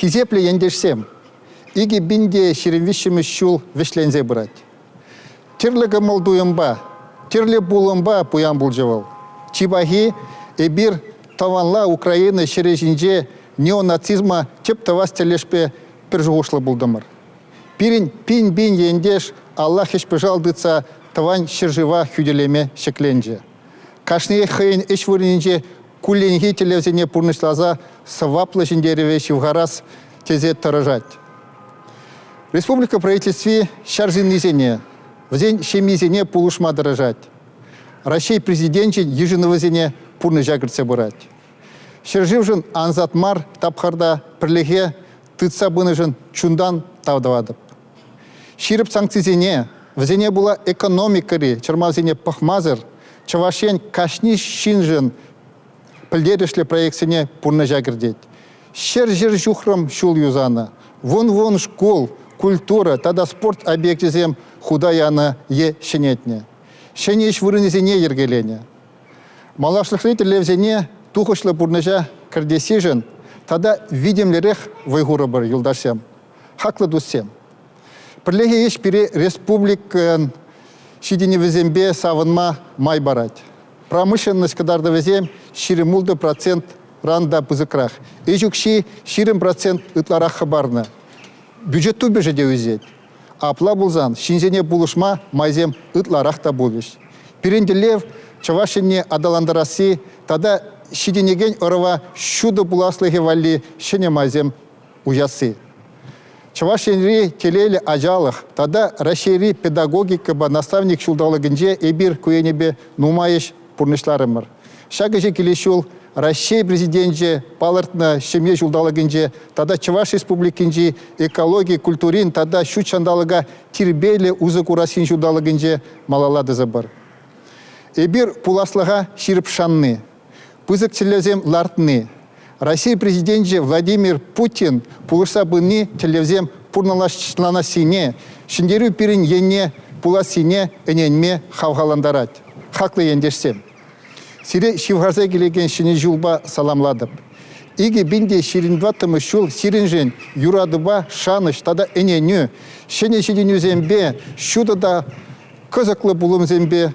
Хисеплӗ ентешсем! Икӗ пин те ҫирӗм виҫҫӗмӗш ҫул вӗҫленсе пырать. Тӗрлӗ кӑмӑл-туйӑмпа, тӗрлӗ пулӑмпа пуян пулчӗ вӑл. Чи пахи, эпир тӑванла Украина ҫӗрӗ ҫинче неонацизма тӗп тӑвас тӗлӗшпе пӗр шухӑшлӑ пултӑмӑр. Пирӗн пин-пин ентеш алла хӗҫпӑшал тытса тӑван ҫӗршыва хӳтӗлеме ҫӗкленчӗ. Кашниех хӑйӗн ӗҫ вырӑнӗнче кулленхи тӗллевсене пурнӑҫласа сӑваплӑ ҫӗнтерӗве ҫывхарас тесе тӑрӑшать. Республика правительстви ҫар ҫыннисене, вӗсен ҫемйисене пулӑшма тӑрӑшать. Раҫҫей Президенчӗн йышӑнӑвӗсене пурнӑҫа кӗртсе пырать. Ҫӗршывшӑн ансат мар тапхӑрта пӗрлӗхе тытса пынӑшӑн чунтан тав тӑватӑп. Ҫирӗп санкцисене, вӗсене пула экономикӑри чӑрмавсене пӑхмасӑр Чӑваш Ен кашни ҫыншӑн пӗлтерӗшлӗ проектсене пурнӑҫа кӗртет. Ҫӗр-ҫӗр ҫухрӑм ҫул юсанӑ, вун-вун шкул, культура тата спорт объекчӗсем хута янӑ е ҫӗнетнӗ, ҫӗнӗ ӗҫ вырӑнӗсене йӗркеленӗ. Малашлӑхри тӗллевсене тухӑҫлӑ пурнӑҫа кӗртессишӗн тата витӗмлӗрех вӑй хурӑпӑр, юлташсем. хаклӑ туссем. Пӗрлехи ӗҫ пире республикӑн ҫитӗнӗвӗсемпе савӑнма май парать. Промышленность кӑтартӑвӗсем ҫирӗм ултӑ процентран та пысӑкрах. Ӗҫ укҫи ҫирӗм процент ытларах хӑпарнӑ. Бюджет тупӑшӗ те ӳсет. Апла пулсан ҫынсене пулӑшма майсем ытларах та пулӗҫ. Пирӗн тӗллев, Чӑваш Енне аталантарасси тата ҫитӗнекен ӑрӑва ҫутӑ пуласлӑхӗ валли ҫӗнӗ майсем уясси. Чӑваш Енри телейлӗ ачалӑх тата Раҫҫейри педагогикӑпа наставник ҫулталӑкӗнче эпир ку енӗпе нумай ӗҫ пурнӑҫларӑмӑр. Ҫак ӗҫе килес ҫул Раҫҫей Президенчӗ палӑртнӑ ҫемье ҫулталӑкӗнче тата Чӑваш Республикинчи экологи, культурин тата ҫут ҫанталӑка тирпейлӗ усӑ курассин ҫулталӑкӗнче малалла тӑсӑпӑр. Эпир пуласлӑха ҫирӗп шанни, Пысӑк тӗллевсем лартни, Россия Президенчӗ Владимир Путин пулӑшса пыни тӗллевсем пурнӑҫланассине, ҫӗнтерӳ пирӗн енне пулассине ӗненме хавхалантарать. Хаклӑ ентешсем! Сире ҫывхарса килекен Ҫӗнӗ ҫулпа саламлатӑп. Икӗ пин те ҫирӗн тӑваттӑмӗш ҫул сирӗншӗн юратупа шанӑҫ тата ӗненӳ, ҫӗнӗ ҫитӗнӳсемпе, ҫутӑ та кӑсӑклӑ пулӑмсемпе